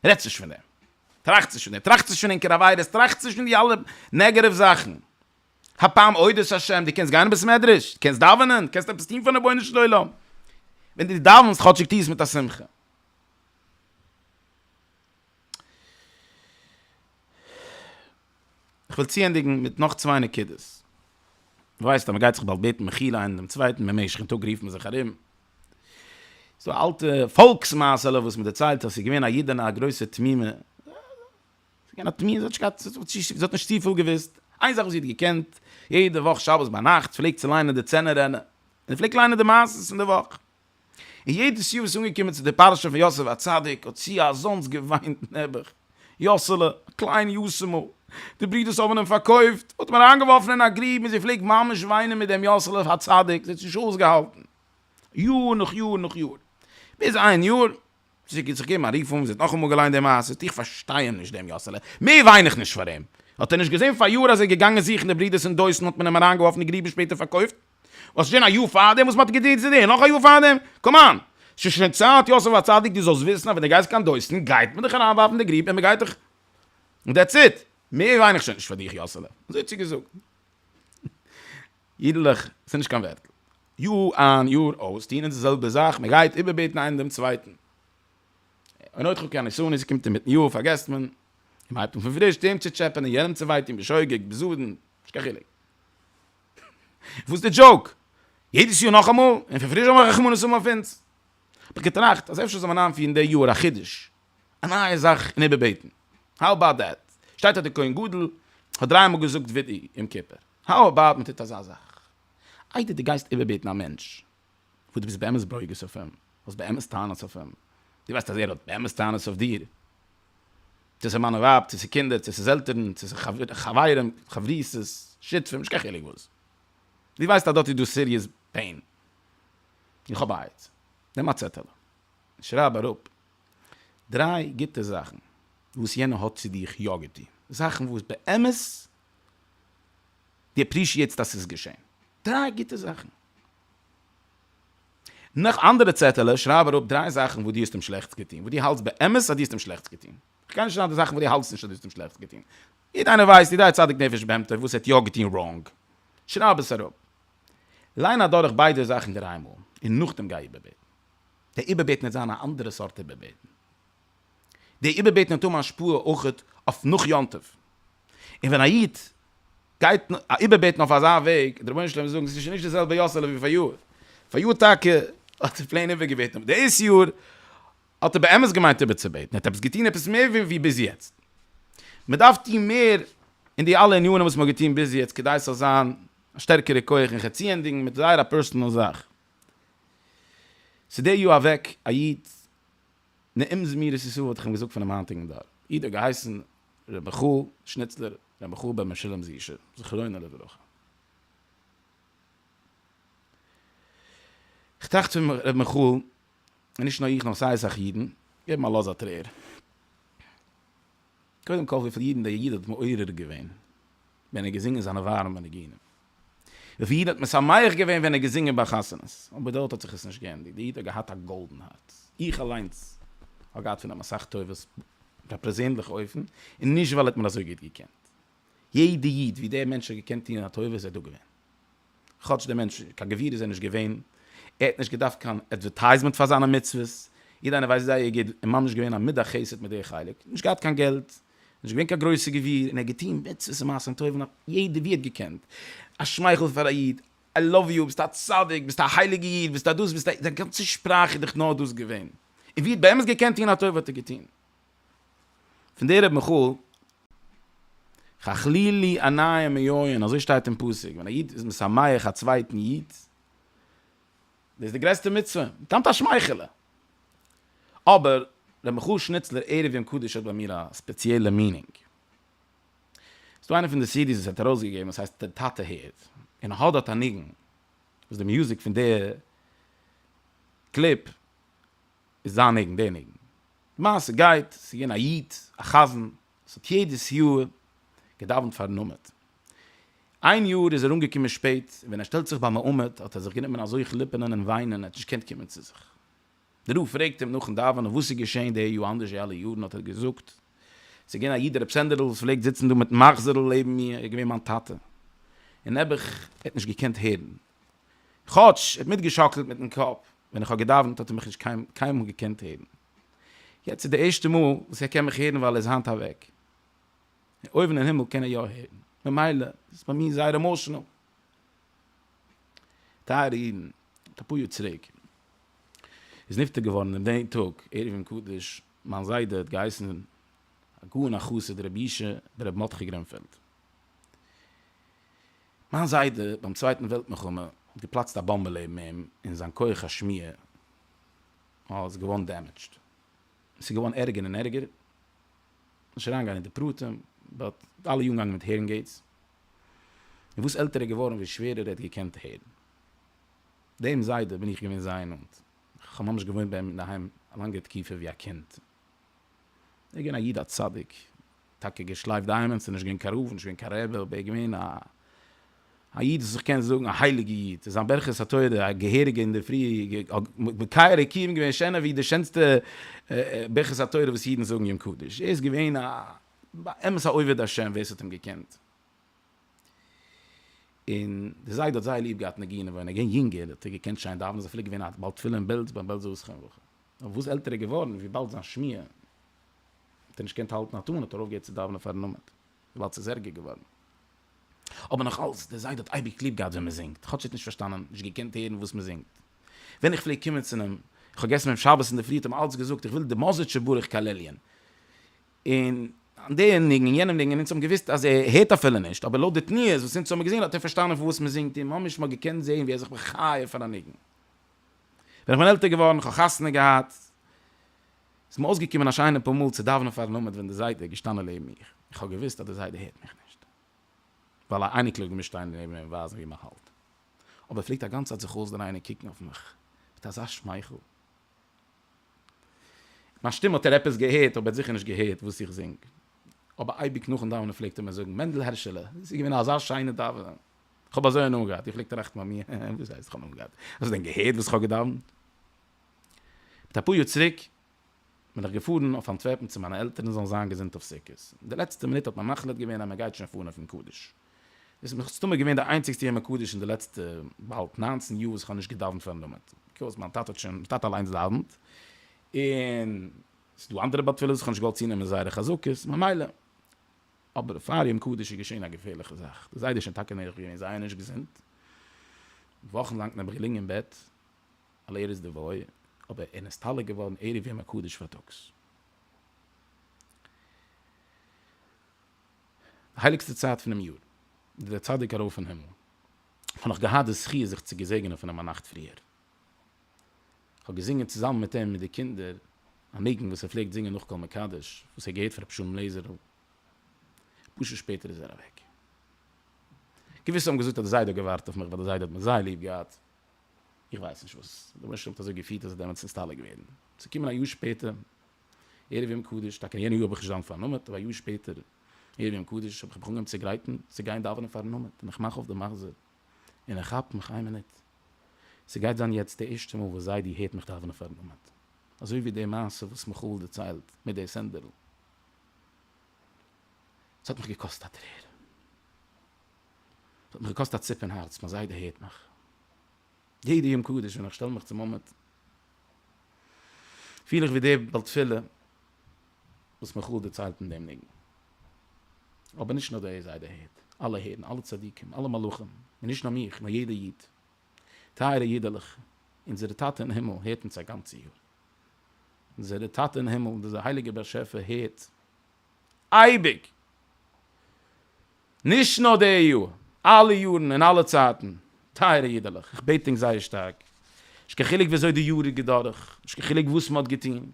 רעדטס נישט פון דעם, טראכטס נישט פון דעם, טראכטס נישט פון ענקערע עבירות, טראכטס נישט פון די אלע נעגעטיוו זאכן, האב פעם עבודת השם, דו קענסט גיין אין בית מדרש, דו קענסט דאווענען, דו קענסט עפעס טון פארן רבונו של עולם, ווען דו דאווענסט כאטשיג טו עס מיט א שמחה. כ'וועל צוענדיגן מיט נאך צוויי נקודות. ווייסט אז מ'גייט זיך באלד בעטן מחילה איינער דעם צווייטן, במשך'ן טאג רופט מען זיך ארום. ס'איז דא א אלטע פאלקס מעשה'לע וואס מ'דערציילט אז ס'איז געווען א אידענע א גרויסע תמימה. ס'איז געווען א תמימה, זי האט נישט געהאט, זי האט נישט צופיל געוואוסט. איין זאך וואס זי האט געקענט, יעדע וואך שבת ביינאכט פלעגט זי ליינען די צענער ענה. זי פלעגט ליינען די מעשה'ס פון די וואך. און יעדעס יאר וואס איז אנגעקומען צו די פרשה פון יוסף הצדיק האט זי אזאנס געוויינט נעבעך, יוסעלע, א קליין יוסימ'ל, די ברודערס האבן אים פארקויפט, מ'האט אים אריינגעווארפן אין א גרוב און זי פלעגט ממש וויינען מיט דעם יוסעלע הצדיק, זי האט עס נישט אויסגעהאלטן יאר נאך יאר נאך יאר, ביז איין יאר זי האט זיך געגעבן א רוף אן, זי האט נאכאמאל געליינט די מעשה, איך פארשטיי אים נישט דעם יאסעלע, מער וויין איך נישט פאר אים. האט ער נישט געזען פאריאר אז ער איז געגאנגען זוכן די ברידערס אינדרויסן האט מען אים אריינגעווארפן אין גרוב און שפעטער פארקויפט? וואס ס'שוין א יאר פארדעם וואס מ'האט געטון צו דיר נאך א יאר פארדעם? קאמאן! ס'איז שוין צייט יוסף הצדיק דו זאלסט וויסן אז ווען דו גייסט קיין דרויסן גייט מען דיך אריינווארפן די גרוב און מ'גייט דיך און דעטס איט! מער וויין איך שוין נישט פאר דיך יאסעלע! אזוי צוגעזאגט. אידלעך, ס'איז נישט קיין ווערטל. יאר איין יאר אויס טוען אונז די זעלבע זאך, מען גייט איבערבעטן איינער דעם צווייטן. און אויך חוקי הנישואין, עס קומט אינמיטן יאר פארגעסט מען, און מען הייבט אן פון פריש, דעם צו טשעפענען, יענעם צו וויי טון, בשוגג, בזדון, נישט קיין חילוק. וואס איז די דזשאוק? יעדעס יאר נאכאמאל? און פון פריש זאל מען רחמנות האבן אויף אונז? האב איך געטראכט אז אפשר זאל מען איינפירן די יאר א חידוש, א נייע זאך אין איבערבעטן. האו אבאוט דעט? שטייט אז די כהן גדול האט דריי מאל געזאגט וידעי יום כיפור. האו אבאוט מען טוט אזא זאך, איידער דו גייסט איבערבעטן א מענטש וואס דו ביסט באמת ברוגז אויף אים, האסט באמת טענות אויף אים, דו ווייסט אז ער האט באמת טענות אויף דיר, צו ס'איז מאן און ווייב, צו ס'איז קינדער, צו ס'איז עלטערן, צו ס'איז חברים, חברותות, שותפים, נישט קיין חילוק וואס, דו ווייסט אז דארט איז דא סיריעס פעין, איך האב א עצה, נעם א צעטעלע און שרייב אראפ דריי גוטע זאכן וואס יענער האט צו דיך יא געטון, זאכן וואס באמת די עפרישיעטסט אז ס'איז געשען? דריי גוטע זאכן. נאך אנדערע צעטעלע שרייב אראפ דריי זאכן וואס דו האסט אים שלעכטס געטון, וואס דו האלטסט באמת אז דו האסט אים שלעכטס געטון. איך גיי נישט שרייבן די זאכן וואס דו האלטסט נישט אז דו האסט אים שלעכטס געטון. יעדער איינער ווייסט, יעדער צדיק נפש בהמתו, וואס ער האט יא געטון ראנג. שרייב עס אראפ. ליין אדורך ביידע זאכן דריי מאל, און נאכדעם גיי איבערבעטן. די איבערבעטן וועט זיין א אנדערע סארט איבערבעטן. די איבערבעטן וועט האבן השפעה אויך אויף נאך יום טוב. און ווען א איד גייט איבערבעטן אויף אזא וועג, די רבונו של עולם וועט זאגן, עס איז שוין נישט די זעלבע יאסעלע ווי פאריאר, פאריאר טאקע האט ער פלעין איבערגעבעטן, אבער דאס יאר האט ער באמת געמיינט איבערצובעטן, ער האט עפעס געטון עפעס מער ווי ביז יעצט. מען דארף טון מער אין די אלע ענינים וואס מען האט געטון ביז יעצט כדי עס זאל זיין א שטערקערע כח און כ'צוענדיגן מיט זייער א פערסאנעל זאך. ס'איז די יאר אוועק א איד נעים זמירות ישראל וואלט איך אים געזאגט פונעם היינטיגן דור, איד האט געהייסן ר' מיכל שניצלער, ר' מיכל בן משולם זיע ש, זכרונו לברכה. כ'טראכט פון ר' מיכל, און נישט נאר איך נאר סיי אסאך אידן, געבן א לאז א טרער. קודם כל וויפיל אידן דער איד האט מעורר געווען ווען ער האט געזינגען זיינע ווארעמע ניגונים. וויפיל אידן האט משמח געווען ווען ער האט געזינגען ביי חתונות, אבער דארט האט זיך עס נישט געענדיגט, דער איד האט געהאט א גאלדן הארץ, איך אליינס האב געהאט פון אים אסאך טובות אויף א פערזענליכע אופן, און נישט ווייל ער האט מיר אזוי גוט געקענט, יעדע איד ווי דער מענטש האט געקענט טון א טובה איז ער דא געווען, כאטש דער מענטש קיין גביר איז ער נישט געווען, ער האט נישט געדארפט קיין עדווערטייזמענט פאר זיינע מצוות, יעדער איינער ווייסט זייער גוט, און ממש געווען א מידת חסד מיט דער חלק, נישט געהאט קיין געלט, נישט געווען קיין גרויסע גביר און ער האט געטון מצוות און מעשים טובים אויף יעדער ווי ער האט געקענט, א שמייכל פאר א איד, איי לאוו יו, ביסט א צדיק, ביסט א הייליגע איד, ביסט א דאס, ביסט א, זיין גאנצע שפראך איז דאך נאר דאס געווען, און ווי ער האט באמת געקענט טון א טובה האט ער געטון. פון דער רבי מיכאל חכליל לי עניי מיואין, אזוי שטייט אין פסוק, ווען א איד איז משמח א צווייטן איד, דאס איז די גרעסטע מצוה, טעמט א שמייכעלע. אבער ר' מיכל שניצלער ערב יום קדוש האט ביי מיר א ספעציעלע מינינג. ס'איז דא איינע פון די סידי'ס וואס ער האט ארויסגעגעבן וואס הייסט דער טאטע הערט, און איך האב דארט א ניגון וואס די מוזיק פון די קליפ איז זיין ניגון, דער ניגון. די מעשה גייט, ס'איז געווען א איד, א חזן, עס האט יעדעס יאר געדאווענט פארן עמוד. איין יאר איז ער אנגעקומען שפעט, און ווען ער שטעלט זיך ביים עמוד האט ער זיך גענומען אזוי כליפענען און וויינען, ער האט נישט געקענט קומען צו זיך. די רב פרעגט אים נאכן דאווענען וואס איז געשען די יאר אנדערש ווי אלע יארן, האט ער געזאגט, עס איז געווען א איד ר' סענדער'ל וואס פלעגט זיצן דא מיטן מחזור'ל לעבן מיר, ער איז געווען מיין טאטע, און נעבעך ער האט נישט געקענט הערן, כאטש ער האט מיטגעשאקלט מיטן קאפ ווען איך האב געדאווענט האט ער מיך נישט קיינמאל געקענט הערן. יעצט איז די ערשטע מאל וואס ער קען מיך הערן ווייל ער איז היינט אוועק. אויבן אין הימל קען ער יא הערן. ממילא איז עס ביי מיר זייער עמאשענעל. טייערע אידן, מיט אפאר יאר צוריק איז נפטר געווארן אין די טאג ערב יום קדוש מיין זיידע האט געהייסן הגאון החסיד ר' ישעי' בן ר' מרדכי גרינפעלד. מיין זיידע ביים צווייטן וועלט מלחמה האט געפלאצט א באמבע לעבן אים און זיין כח השמיעה מען איז געווארן דעמעדזשד, עס איז געווארן ערגער און ערגער, נישט אריין גיין אין די פרטים, באט אלע יארן געגאנגען מיט הערינג עידס, און וואס עלטער ער איז געווארן ווי שווערער ער האט געקענט הערן. דעם זיידע בין איך געווען זייער נאנט, איך האב ממש געוואוינט ביי אים אינדערהיים א לאנגע תקופה ווי א קינד, ער איז געווען א איד א צדיק, טאקע געשלייפט די היימען, ס'איז נישט געווען קיין רב, נישט געווען קיין רבי, אבער ער איז געווען א איד וואס איך קען זאגן א הייליגע איד, און זיין ברכת התורה א געהעריגע אינדערפרי האט מקיים רקיעים געווען שענער ווי די שענסטע ברכת התורה וואס אידן זאגן יום קדוש, ער איז געווען א באמת א עובד השם ווער ס'האט אים געקענט. און די זיידע האט זייער ליב געהאט ניגונים ווען ער איז געווען יונגער האט ער געקענט שיין דאווענען איז אפילו געווען א בעל תפילה אין בעלז ביים בעלזער עסקן וכו' אבער וואס עלטער ער איז געווארן וויבאלד זיין שמיעה האט ער נישט געקענט האלטן א טאן האט ער אויפגעהערט צו דאווענען פארן עמוד וויבאלד ס'איז ערגער געווארן אבער נאך אלס די זיידע האט אייביג ליב געהאט ווען מען זינגט כאטש ער האט נישט פארשטאנען נישט געקענט הערן וואס מען זינגט ווען איך פלעג קומען צו אים איך האב געגעסן מיט אים שבת אינדערפרי האט ער מיר אלץ געזאגט איך וויל די מאזעטשע ברך כללי'ן. און דער ניגון און יענער ניגון, און אונז האבן געוואוסט אז ער הערט אפילו נישט, אבער לויט די תנועות וואס אונז האבן געזען האט ער פארשטאנען פון וואס מען זינגט און ממש מ'האט געקענט זען ווי ער זיך מחיה פון א ניגון. ווען איך בין עלטער געווארן, כ'האב חתונה געהאט, איז מיר אויסגעקומען א שיינע פאר מאל צו דאווענען פארן עמוד ווען דער זיידע איז געשטאנען לעבן מיך, איך האב געוואוסט אז דער זיידע הערט מיך נישט, ווייל א אייניקל איז געמוזט שטיין נעבן אים און ווייזן ווי מ'האלט, אבער ער פלעגט א גאנצע צייט זיך אויסדרייען און קוקן אויף מיך מיט אזא שמייכל. מיין שטים האט ער עפעס געהערט אבער ער האט זיכער נישט געהערט וואס איך זינג. אבער אייביג נאכן דאווענען פלעגט ער מיר זאגן מענדל הערשעלע עס איז געווען אזא שיינע דאווענען. כ'האב אזוי הנאה געהאט. איך פלעג טראכטן ביי מיר הע הע וואס הייסט כ'האב הנאה געהאט? האסט דען געהערט וואס כ'האב געדאווענט? מיט אפאר יאר צוריק בין איך געפארן אויף אנטווערפן צו מיינע עלטערן זאלן זיין געזונט אויף סוכות. אין די לעצטע מינוט האט מען מחליט געווען אז מען גייט שוין פארן אויפן קדיש. דאס איז מסתמא געווען די איינציגסטע יום הקדוש אין די לעצטע באלד נײַנצן יאר וואס איך האב נישט געדאווענט פארן למד, ביזקאוז מיין טאטע האט שוין, מיין טאטע אליינס דאווענט, און ס'איז דא אנדערע בעל תפלות וואס איך האב נישט געוואלט צונעמען זייערע חזקות, ממילא. אבער פאר יום קדוש איז געשען א געפערליכע זאך, די זיידע איז שוין טאקע נערך געווען זייער נישט געזונט, וואכן לאנג נעבעך געלעגן אין בעט, על ערש דווי, אבער ער נסתלק געווארן ערב יום הקדוש פארטאגס. די הייליגסטע צייט פונעם יאר איז דער צדיק ארויף אין הימל, איך האב נאך געהאט די זכי' זיך צו געזעגענען פון אים א נאכט פריער, איך האב געזינגען צוזאמען מיט אים מיט די קינדער א ניגון וואס ער פלעגט זינגען נאך כל מקדש, וואס ער האט געהערט פון רבי שלום לעזער'ל, אפאר שעה שפעטער איז ער אוועק. געוויסע האבן געזאגט אז די זיידע האט געווארט אויף מיך ווייל די זיידע האט מיך זייער ליב געהאט, איך ווייס נישט וואס רבי משה האט אזוי געפירט אז ער דערמאנט צו נסתלק ווערן, צו קומען א יאר שפעטער ערב יום קדוש, טאקע אין יענע יאר האב איך נישט דאווענט פארן נאמעד, אבער א יאר שפעטער ערב יום קדוש האב איך מיך אנגעהויבן צו גרייטן צו גיין דאווענען פארן נאמעד, און איך מאך אויף די מחזור, און איך כאפ מיך איין מינוט, ס'גייט זיין יעצט די ערשטע מאל וואס זיידי הערט מיך דאווענען פארן נאמעד, אזוי ווי די מעשה וואס מיכאל דערציילט מיט די סענדערל, ס'האט מיך געקאסט א טרער, ס'האט מיך געקאסט א ציפ אין הארץ, מיין זיידע הערט מיך. יעדע יום קדוש ווען איך שטעל מיך צום עמוד פיל איך ווי דער בעל תפילה וואס מיכאל דערציילט אין דעם ניגון, אבער נישט נאר דער זיידע הערט, אלע הערן, אלע צדיקים, אלע מלאכים, און נישט נאר מיך, נאר יעדער איד, טייערע אידעלעך, אונזער טאטע אין הימל הערט אונז א גאנצע יאר, אונזער טאטע אין הימל, דער הייליגער באשעפער הערט. אייביג, נישט נאר די יאר, אלע יארן און אלע צייטן, טייערע אידעלעך, איך בעט ענק זייער שטארק, נישט קיין חילוק וויאזוי די יאר איז געדורך, נישט קיין חילוק וואס מען האט געטון,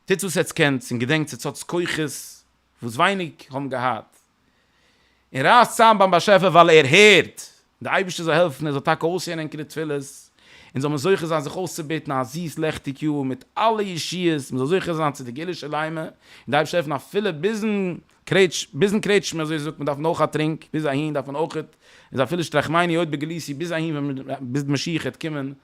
טוטס וואס עטס קענטס און געדענקטס עטס האטס כוחות וואס ווייניג האבן געהאט, און רייסט צאם ביים באשעפער ווייל ער הערט, דער אייבערשטער זאל העלפן ער זאל טאקע אויסהערן ענקערע תפילות, און זאל מען זוכה זיין זיך אויסצובעטן א זיס לעכטיג יאר מיט אלע ישועות, מען זאל זוכה זיין צו די גאולה שלימה, און די אייבערשטער העלפן אפילו ביזן קרעטש ביזן קרעטשמע אזוי זאגט מען דארף מען אויך א טרינק, ביז אהין דארף מען אויך, איז אפילו שטרחמייני עוד בגליסי ביז אהין ווען ביז משיח העט קומען,